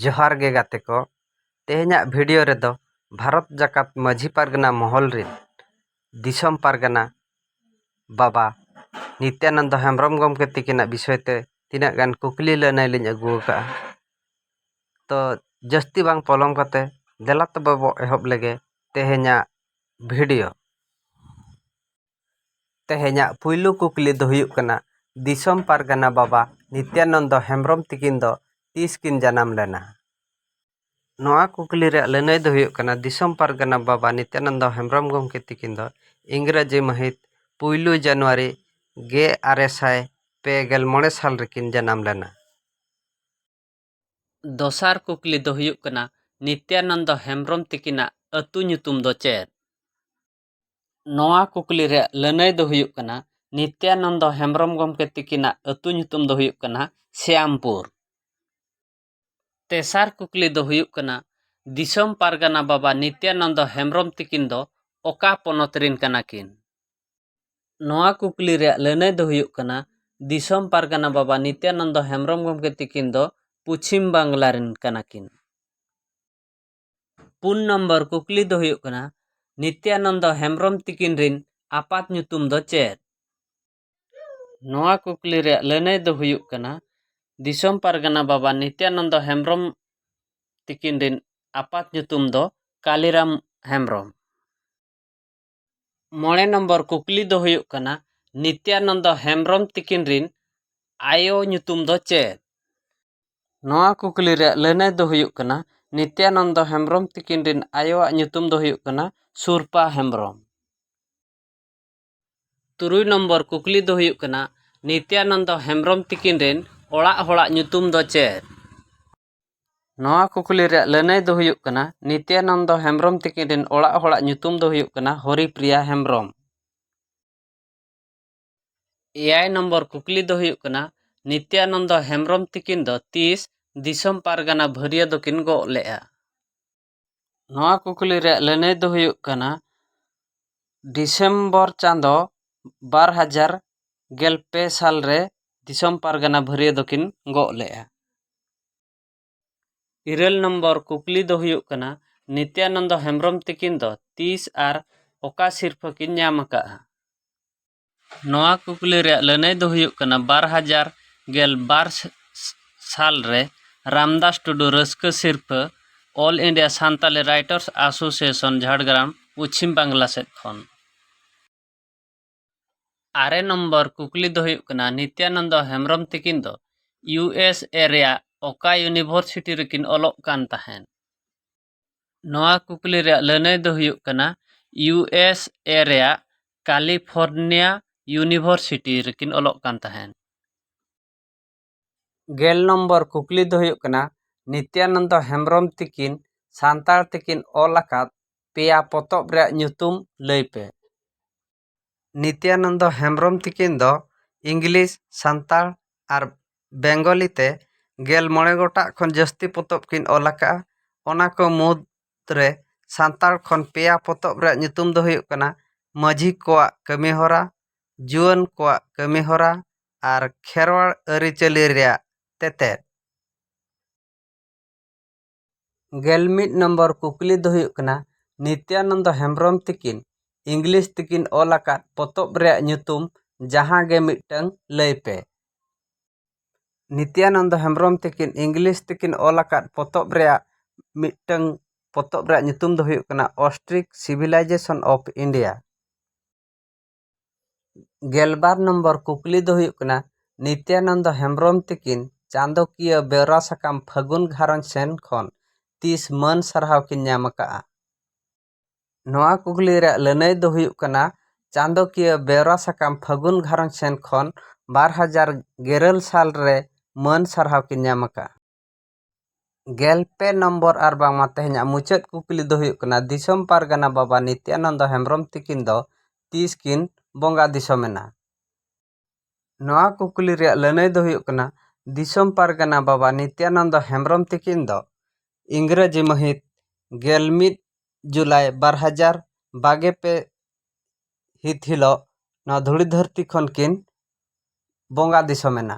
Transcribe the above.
ᱡᱚᱦᱟᱨ ᱜᱮ ᱜᱟᱛᱮ ᱠᱚ ᱛᱮᱦᱮᱧᱟᱜ ᱵᱷᱤᱰᱤᱭᱳ ᱨᱮᱫᱚ ᱵᱷᱟᱨᱚᱛ ᱡᱟᱠᱟᱛ ᱢᱟᱹᱡᱷᱤ ᱯᱟᱨᱜᱟᱱᱟ ᱢᱚᱦᱚᱞ ᱨᱮ ᱫᱤᱥᱚᱢ ᱯᱟᱨᱜᱟᱱᱟ ᱵᱟᱵᱟ ᱱᱤᱛᱭᱟᱱᱚᱱᱫᱚ ᱦᱮᱢᱵᱨᱚᱢ ᱜᱚᱢᱠᱮ ᱛᱟᱹᱠᱤᱱᱟᱜ ᱵᱤᱥᱚᱭ ᱛᱮ ᱛᱤᱱᱟᱹᱜ ᱜᱟᱱ ᱠᱩᱠᱞᱤ ᱞᱟᱹᱱᱟᱹᱭ ᱞᱤᱧ ᱟᱹᱜᱩ ᱟᱠᱟᱫᱼᱟ ᱛᱚ ᱡᱟᱹᱥᱛᱤ ᱵᱟᱝ ᱯᱚᱞᱚᱢ ᱠᱟᱛᱮ ᱫᱮᱞᱟ ᱛᱚᱵᱮ ᱵᱚ ᱮᱦᱚᱵ ᱞᱮᱜᱮ ᱛᱮᱦᱮᱧᱟᱜ ᱵᱷᱤᱰᱤᱭᱳ ᱛᱮᱦᱮᱧᱟᱜ ᱯᱩᱭᱞᱩ ᱠᱩᱠᱞᱤ ᱫᱚ ᱦᱩᱭᱩᱜ ᱠᱟᱱᱟ ᱫᱤᱥᱚᱢ ᱯᱟᱨᱜᱟᱱᱟ ᱵᱟᱵᱟ ᱱᱤᱛᱭᱟᱱᱚᱱᱫᱚ ᱦᱮᱢᱵᱨᱚᱢ ᱛᱤᱠᱤᱱ ᱫᱚ ᱛᱤᱥ ᱠᱤᱱ ᱡᱟᱱᱟᱢ ᱞᱮᱱᱟ ᱱᱚᱣᱟ ᱠᱩᱠᱞᱤ ᱨᱮᱭᱟᱜ ᱞᱟᱹᱱᱟᱹᱭ ᱫᱚ ᱦᱩᱭᱩᱜ ᱠᱟᱱᱟ ᱫᱤᱥᱚᱢ ᱯᱟᱨᱜᱟᱱᱟ ᱵᱟᱵᱟ ᱱᱤᱛᱭᱟᱱᱚᱱᱫᱚ ᱦᱮᱢᱵᱨᱚᱢ ᱜᱚᱢᱠᱮ ᱛᱤᱠᱤᱱ ᱫᱚ ᱤᱝᱨᱟᱹᱡᱤ ᱢᱟᱹᱦᱤᱛ ᱯᱩᱭᱞᱩ ᱡᱟᱱᱩᱣᱟᱨᱤ ᱜᱮ ᱟᱨᱮ ᱥᱟᱭ ᱯᱮ ᱜᱮᱞ ᱢᱚᱬᱮ ᱥᱟᱞ ᱨᱮᱠᱤᱱ ᱡᱟᱱᱟᱢ ᱞᱮᱱᱟ᱾ ᱫᱚᱥᱟᱨ ᱠᱩᱠᱞᱤ ᱫᱚ ᱦᱩᱭᱩᱜ ᱠᱟᱱᱟ ᱱᱤᱛᱭᱟᱱᱚᱱᱫᱚ ᱦᱮᱢᱵᱨᱚᱢ ᱛᱤᱠᱤᱱᱟᱜ ᱟᱹᱛᱩ ᱧᱩᱛᱩᱢ ᱫᱚ ᱪᱮᱫ? ᱱᱚᱣᱟ ᱠᱩᱠᱞᱤ ᱨᱮᱭᱟᱜ ᱞᱟᱹᱱᱟᱹᱭ ᱫᱚ ᱦᱩᱭᱩᱜ ᱠᱟᱱᱟ ᱱᱤᱛᱭᱟᱱᱚᱱᱫᱚ ᱦᱮᱢᱵᱨᱚᱢ ᱜᱚᱢᱠᱮ ᱛᱤᱠᱤᱱᱟᱜ ᱟᱹᱛᱩ ᱧᱩᱛᱩᱢ ᱫᱚ ᱦᱩᱭᱩᱜ ᱠᱟᱱᱟ ᱥᱮᱭᱟᱢᱯᱩᱨ ᱛᱮᱥᱟᱨ ᱠᱩᱠᱞᱤ ᱫᱚ ᱦᱩᱭᱩᱜ ᱠᱟᱱᱟ ᱫᱤᱥᱚᱢ ᱯᱟᱨᱜᱟᱱᱟ ᱵᱟᱵᱟ ᱱᱤᱛᱭᱟᱱᱚᱱᱫᱚ ᱦᱮᱢᱵᱨᱚᱢ ᱛᱤᱠᱤᱱ ᱫᱚ ᱚᱠᱟ ᱯᱚᱱᱚᱛ ᱨᱮᱱ ᱠᱟᱱᱟ ᱠᱤᱱ ᱱᱚᱣᱟ ᱠᱩᱠᱞᱤ ᱨᱮᱭᱟᱜ ᱞᱟᱹᱱᱟᱹᱭ ᱫᱚ ᱦᱩᱭᱩᱜ ᱠᱟᱱᱟ ᱫᱤᱥᱚᱢ ᱯᱟᱨᱜᱟᱱᱟ ᱵᱟᱵᱟ ᱱᱤᱛᱭᱟᱱᱚᱱᱫᱚ ᱦᱮᱢᱵᱨᱚᱢ ᱜᱚᱢᱠᱮ ᱛᱤᱠᱤᱱ ᱫᱚ ᱯᱚᱪᱷᱤᱢ ᱵᱟᱝᱞᱟ ᱨᱮᱱ ᱠᱟᱱᱟ ᱠᱤᱱ ᱯᱩᱱ ᱱᱚᱢᱵᱚᱨ ᱠᱩᱠᱞᱤ ᱫᱚ ᱦᱩᱭᱩᱜ ᱠᱟᱱᱟ ᱱᱤᱛᱭᱟᱱᱚᱱᱫᱚ ᱦᱮᱢᱵᱨᱚᱢ ᱛᱤᱠᱤᱱ ᱨᱤᱱ ᱟᱯᱟᱛ ᱧᱩᱛᱩᱢ ᱫᱚ ᱪᱮᱫ ᱱᱚᱣᱟ ᱠᱩᱠᱞᱤ ᱨᱮᱭᱟᱜ ᱞᱟᱹᱱᱟᱹᱭ ᱫᱚ ᱦᱩᱭᱩᱜ ᱠᱟᱱᱟ ᱫᱤᱥᱚᱢ ᱯᱟᱨᱜᱟᱱᱟ ᱵᱟᱵᱟ ᱱᱤᱛᱭᱟᱱᱚᱱᱫᱚ ᱦᱮᱢᱵᱨᱚᱢ ᱛᱤᱠᱤᱱ ᱨᱤᱱ ᱟᱯᱟᱛ ᱧᱩᱛᱩᱢ ᱫᱚ ᱠᱟᱞᱤᱨᱟᱢ ᱦᱮᱢᱵᱨᱚᱢ ᱢᱚᱬᱮ ᱱᱚᱢᱵᱚᱨ ᱠᱩᱠᱞᱤ ᱫᱚ ᱦᱩᱭᱩᱜ ᱠᱟᱱᱟ ᱱᱤᱛᱭᱟᱱᱚᱱᱫᱚ ᱦᱮᱢᱵᱨᱚᱢ ᱛᱤᱠᱤᱱ ᱨᱤᱱ ᱟᱭᱳ ᱧᱩᱛᱩᱢ ᱫᱚ ᱪᱮᱫ ᱱᱚᱣᱟ ᱠᱩᱠᱞᱤ ᱨᱮᱭᱟᱜ ᱞᱟᱹᱱᱟᱹᱭ ᱫᱚ ᱦᱩᱭᱩᱜ ᱠᱟᱱᱟ ᱱᱤᱛᱭᱟᱱᱚᱱᱫᱚ ᱦᱮᱢᱵᱨᱚᱢ ᱛᱤᱠᱤᱱ ᱨᱤᱱ ᱟᱭᱳᱣᱟᱜ ᱧᱩᱛᱩᱢ ᱫᱚ ᱦᱩᱭᱩᱜ ᱠᱟᱱᱟ ᱥᱩᱨᱯᱟ ᱦᱮᱢᱵᱨᱚᱢ ᱛᱩᱨᱩᱭ ᱱᱚᱢᱵᱚᱨ ᱠᱩᱠᱞᱤ ᱫᱚ ᱦᱩᱭᱩᱜ ᱠᱟᱱᱟ ᱱᱤᱛᱭᱟᱱᱚᱱᱫᱚ ᱦᱮᱢᱵᱨᱚᱢ ᱛᱤᱠᱤᱱ ᱨᱤᱱ ᱚᱲᱟᱜ ᱦᱚᱲᱟᱜ ᱧᱩᱛᱩᱢ ᱫᱚ ᱪᱮᱫ ᱱᱚᱣᱟ ᱠᱩᱠᱞᱤ ᱨᱮᱭᱟᱜ ᱞᱟᱹᱱᱟᱹᱭ ᱫᱚ ᱦᱩᱭᱩᱜ ᱠᱟᱱᱟ ᱱᱤᱛᱭᱟᱱᱚᱱᱫᱚ ᱦᱮᱢᱵᱨᱚᱢ ᱛᱤᱠᱤᱱ ᱨᱮᱱ ᱚᱲᱟᱜ ᱦᱚᱲᱟᱜ ᱧᱩᱛᱩᱢ ᱫᱚ ᱦᱩᱭᱩᱜ ᱠᱟᱱᱟ ᱦᱚᱨᱤᱯᱨᱤᱭᱟ ᱦᱮᱢᱵᱨᱚᱢ᱾ ᱮᱭᱟᱭ ᱱᱚᱢᱵᱚᱨ ᱠᱩᱠᱞᱤ ᱫᱚ ᱦᱩᱭᱩᱜ ᱠᱟᱱᱟ ᱱᱤᱛᱭᱟᱱᱚᱱᱫᱚ ᱦᱮᱢᱵᱨᱚᱢ ᱛᱤᱠᱤᱱ ᱫᱚ ᱛᱤᱥ ᱫᱤᱥᱚᱢ ᱯᱟᱨᱜᱟᱱᱟ ᱵᱷᱟᱹᱨᱤᱭᱟᱹ ᱫᱚᱠᱤᱱ ᱜᱚᱜ ᱞᱮᱫᱼᱟ? ᱱᱚᱣᱟ ᱠᱩᱠᱞᱤ ᱨᱮᱭᱟᱜ ᱞᱟᱹᱱᱟᱹᱭ ᱫᱚ ᱦᱩᱭᱩᱜ ᱠᱟᱱᱟ ᱰᱤᱥᱮᱢᱵᱚᱨ ᱪᱟᱸᱫᱚ ᱵᱟᱨ ᱦᱟᱡᱟᱨ ᱜᱮᱞ ᱯᱮ ᱥᱟᱞ ᱨᱮ ᱫᱤᱥᱚᱢ ᱯᱟᱨᱜᱟᱱᱟ ᱵᱷᱟᱹᱨᱭᱟᱹ ᱫᱚᱠᱤᱱ ᱜᱚᱜ ᱞᱮᱫᱼᱟ ᱤᱨᱟᱹᱞ ᱱᱚᱢᱵᱚᱨ ᱠᱩᱠᱞᱤ ᱫᱚ ᱦᱩᱭᱩᱜ ᱠᱟᱱᱟ ᱱᱤᱛᱭᱟᱱᱚᱱᱫᱚ ᱦᱮᱢᱵᱨᱚᱢ ᱛᱟᱹᱠᱤᱱ ᱫᱚ ᱛᱤᱥ ᱟᱨ ᱚᱠᱟ ᱥᱤᱨᱯᱷᱟᱹ ᱠᱤᱱ ᱧᱟᱢ ᱟᱠᱟᱫᱼᱟ ᱱᱚᱣᱟ ᱠᱩᱠᱞᱤ ᱨᱮᱭᱟᱜ ᱞᱟᱹᱱᱟᱹᱭ ᱫᱚ ᱦᱩᱭᱩᱜ ᱠᱟᱱᱟ ᱵᱟᱨ ᱦᱟᱡᱟᱨ ᱜᱮᱞ ᱵᱟᱨ ᱥᱟᱞ ᱨᱮ ᱨᱟᱢᱫᱟᱥ ᱴᱩᱰᱩ ᱨᱟᱹᱥᱠᱟᱹ ᱥᱤᱨᱯᱷᱟᱹ all India Santali writers association Jhargram Paschim Bangla ᱥᱮᱫ ᱠᱷᱚᱱ᱾ ᱟᱨᱮ ᱱᱚᱢᱵᱚᱨ ᱠᱩᱠᱞᱤ ᱫᱚ ᱦᱩᱭᱩᱜ ᱠᱟᱱᱟ ᱱᱤᱛᱭᱟᱱᱚᱱᱫᱚ ᱦᱮᱢᱵᱽᱨᱚᱢ ᱛᱤᱠᱤᱱ ᱫᱚ ᱤᱭᱩ ᱮᱥ ᱮ ᱨᱮᱭᱟᱜ ᱚᱠᱟ ᱭᱩᱱᱤᱵᱷᱚᱨᱥᱤᱴᱤ ᱨᱮᱠᱤᱱ ᱚᱞᱚᱜ ᱠᱟᱱ ᱛᱟᱦᱮᱸᱫ? ᱱᱚᱣᱟ ᱠᱩᱠᱞᱤ ᱨᱮᱭᱟᱜ ᱞᱟᱹᱱᱟᱹᱭ ᱫᱚ ᱦᱩᱭᱩᱜ ᱠᱟᱱᱟ ᱤᱭᱩ ᱮᱥ ᱮ ᱨᱮᱭᱟᱜ ᱠᱟᱞᱤᱯᱷᱚᱨᱱᱤᱭᱟ ᱤᱭᱩᱱᱤᱵᱷᱚᱨᱥᱤᱴᱤ ᱨᱮᱠᱤᱱ ᱚᱞᱚᱜ ᱠᱟᱱ ᱛᱟᱦᱮᱱ ᱜᱮᱞ ᱱᱚᱢᱵᱚᱨ ᱠᱩᱠᱞᱤ ᱫᱚ ᱦᱩᱭᱩᱜ ᱠᱟᱱᱟ ᱱᱤᱛᱭᱟᱱᱚᱱᱫᱚ ᱦᱮᱢᱵᱨᱚᱢ ᱛᱤᱠᱤᱱ ᱥᱟᱱᱛᱟᱲ ᱛᱮᱠᱤᱱ ᱚᱞ ᱟᱠᱟᱫ ᱯᱮᱭᱟ ᱯᱚᱛᱚᱵ ᱨᱮᱭᱟᱜ ᱧᱩᱛᱩᱢ ᱞᱟᱹᱭ ᱯᱮ ᱱᱤᱛᱭᱟᱱᱚᱱᱫᱚ ᱦᱮᱢᱵᱽᱨᱚᱢ ᱛᱤᱠᱤᱱ ᱫᱚ ᱤᱝᱞᱤᱥ ᱥᱟᱱᱛᱟᱲ ᱟᱨ ᱵᱮᱝᱜᱚᱞᱤ ᱛᱮ ᱜᱮᱞ ᱢᱚᱬᱮ ᱜᱚᱴᱟᱝ ᱠᱷᱚᱱ ᱡᱟᱹᱥᱛᱤ ᱯᱚᱛᱚᱵ ᱠᱤᱱ ᱚᱞ ᱟᱠᱟᱫᱼᱟ ᱚᱱᱟ ᱠᱚ ᱢᱩᱫᱽ ᱨᱮ ᱥᱟᱱᱛᱟᱲ ᱠᱷᱚᱱ ᱯᱮᱭᱟ ᱯᱚᱛᱚᱵ ᱨᱮᱭᱟᱜ ᱧᱩᱛᱩᱢ ᱫᱚ ᱦᱩᱭᱩᱜ ᱠᱟᱱᱟ ᱢᱟᱹᱡᱷᱤ ᱠᱚᱣᱟᱜ ᱠᱟᱹᱢᱤ ᱦᱚᱨᱟ ᱡᱩᱣᱟᱹᱱ ᱠᱚᱣᱟᱜ ᱠᱟᱹᱢᱤ ᱦᱚᱨᱟ ᱟᱨ ᱠᱷᱮᱨᱣᱟᱲ ᱟᱹᱨᱤᱪᱟᱹᱞᱤ ᱨᱮᱭᱟᱜ ᱛᱮᱛᱮᱫ ᱜᱮᱞ ᱢᱤᱫ ᱱᱚᱢᱵᱚᱨ ᱠᱩᱠᱞᱤ ᱫᱚ ᱦᱩᱭᱩᱜ ᱠᱟᱱᱟ ᱱᱤᱛᱭᱟᱱᱚᱱᱫᱚ ᱦᱮᱢᱵᱨᱚᱢ ᱛᱤᱠᱤᱱ ᱤᱝᱞᱤᱥ ᱛᱮᱠᱤᱱ ᱚᱞ ᱟᱠᱟᱫ ᱯᱚᱛᱚᱵ ᱨᱮᱭᱟᱜ ᱧᱩᱛᱩᱢ ᱡᱟᱦᱟᱸ ᱜᱮ ᱢᱤᱫᱴᱟᱹᱝ ᱞᱟᱹᱭ ᱯᱮ ᱱᱤᱛᱭᱟᱱᱚᱱᱫᱚ ᱦᱮᱢᱵᱨᱚᱢ ᱛᱤᱠᱤᱱ ᱤᱝᱞᱤᱥ ᱛᱮᱠᱤᱱ ᱚᱞ ᱟᱠᱟᱫ ᱯᱚᱛᱚᱵ ᱨᱮᱭᱟᱜ ᱢᱤᱫᱴᱟᱹᱝ ᱯᱚᱛᱚᱵ ᱨᱮᱭᱟᱜ ᱧᱩᱛᱩᱢ ᱫᱚ ᱦᱩᱭᱩᱜ ᱠᱟᱱᱟ ᱚᱥᱴᱨᱤᱠ ᱥᱤᱵᱷᱤᱞᱟᱭᱡᱮᱥᱚᱱ ᱚᱯᱷ ᱤᱱᱰᱤᱭᱟ ᱜᱮᱞᱵᱟᱨ ᱱᱚᱢᱵᱚᱨ ᱠᱩᱠᱞᱤ ᱫᱚ ᱦᱩᱭᱩᱜ ᱠᱟᱱᱟ ᱱᱤᱛᱭᱟᱱᱚᱱᱫᱚ ᱦᱮᱢᱵᱨᱚᱢ ᱛᱤᱠᱤᱱ ᱪᱟᱸᱫᱚᱠᱤᱭᱟᱹ ᱵᱮᱣᱨᱟ ᱥᱟᱠᱟᱢ ᱯᱷᱟᱹᱜᱩᱱ ᱜᱷᱟᱨᱚᱸᱡᱽ ᱥᱮᱱ ᱠᱷᱚᱱ ᱛᱤᱥ ᱢᱟᱹᱱ ᱥᱟᱨᱦᱟᱣ ᱠᱤᱱ ᱧᱟᱢ ᱟᱠᱟᱫᱼᱟ ᱱᱚᱣᱟ ᱠᱩᱠᱞᱤ ᱨᱮᱭᱟᱜ ᱞᱟᱹᱱᱟᱹᱭ ᱫᱚ ᱦᱩᱭᱩᱜ ᱠᱟᱱᱟ ᱪᱟᱸᱫᱚᱠᱤᱭᱟᱹ ᱵᱮᱣᱨᱟ ᱥᱟᱠᱟᱢ ᱯᱷᱟᱹᱜᱩᱱ ᱜᱷᱟᱨᱚᱸᱡᱽ ᱥᱮᱱ ᱠᱷᱚᱱ ᱵᱟᱨ ᱦᱟᱡᱟᱨ ᱜᱮᱨᱟᱹᱞ ᱥᱟᱞ ᱨᱮ ᱢᱟᱹᱱ ᱥᱟᱨᱦᱟᱣ ᱠᱤᱱ ᱧᱟᱢ ᱟᱠᱟᱫᱼᱟ ᱜᱮᱞ ᱯᱮ ᱱᱚᱢᱵᱚᱨ ᱟᱨ ᱵᱟᱝᱢᱟ ᱛᱮᱦᱮᱧᱟᱜ ᱢᱩᱪᱟᱹᱫ ᱠᱩᱠᱞᱤ ᱫᱚ ᱦᱩᱭᱩᱜ ᱠᱟᱱᱟ ᱫᱤᱥᱚᱢ ᱯᱟᱨᱜᱟᱱᱟ ᱵᱟᱵᱟ ᱱᱤᱛᱭᱟᱱᱚᱱᱫᱚ ᱦᱮᱢᱵᱨᱚᱢ ᱛᱤᱠᱤᱱ ᱫᱚ ᱛᱤᱥ ᱠᱤᱱ ᱵᱚᱸᱜᱟ ᱫᱤᱥᱚᱢ ᱮᱱᱟ ᱱᱚᱣᱟ ᱠᱩᱠᱞᱤ ᱨᱮᱭᱟᱜ ᱞᱟᱹᱱᱟᱹᱭ ᱫᱚ ᱦᱩᱭᱩᱜ ᱠᱟᱱᱟ ᱫᱤᱥᱚᱢ ᱯᱟᱨᱜᱟᱱᱟ ᱵᱟᱵᱟ ᱱᱤᱛᱭᱟᱱᱚᱱᱫᱚ ᱦᱮᱢᱵᱨᱚᱢ ᱛᱤᱠᱤᱱ ᱫᱚ ᱤᱝᱨᱟᱹᱡᱤ ᱢᱟᱹᱦᱤᱛ ᱜᱮᱞ ᱢᱤᱫ ᱡᱩᱞᱟᱭ ᱵᱟᱨ ᱦᱟᱡᱟᱨ ᱵᱟᱜᱮ ᱯᱮ ᱦᱤᱛ ᱦᱤᱞᱳᱜ ᱱᱚᱣᱟ ᱫᱷᱩᱲᱤ ᱫᱷᱟᱹᱨᱛᱤ ᱠᱷᱚᱱ ᱠᱤᱱ ᱵᱚᱸᱜᱟ ᱫᱤᱥᱚᱢ ᱮᱱᱟ